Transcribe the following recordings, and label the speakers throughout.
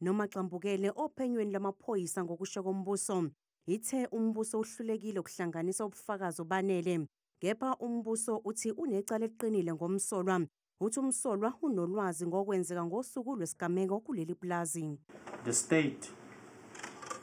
Speaker 1: noma xambukele ophenyweni lwamaphoyisa ngokusho kombuso ithe umbuso uhlulekile ukuhlanganisa ubufakazi obanele kepha umbuso uthi unecala eliqinile ngomsolwa uthi umsolwa unolwazi ngokwenzeka ngosuku lwesigameko kuleli pulazi the state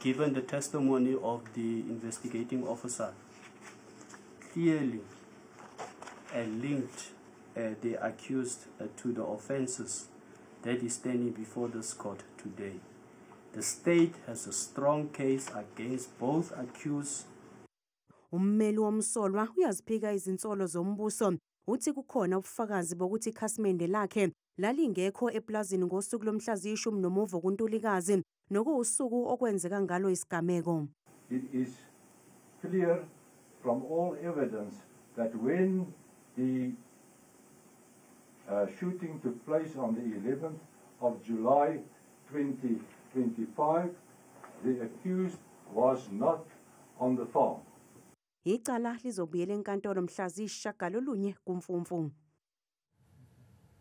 Speaker 2: given the testimony of the investigating officer clearly uh, linked uh, the accused uh, to the offences that is standing before this court today. The state has a strong case against both accused.
Speaker 1: Ummeli womsolwa uyaziphika izinsolo zombuso uthi kukhona ubufakazi bokuthi ikhasimende lakhe lalingekho eplazini ngosuku lomhlaziyishumi nomuvo kuNtulikazi nokuwusuku okwenzeka ngalo isigameko. It is
Speaker 3: clear from all evidence that when the uh, shooting took place on the 11th of July 2025, the accused was not on the farm.
Speaker 1: Icala lizobuyela
Speaker 3: enkantolo
Speaker 1: mhla ziyishagalolunye kumfumfu.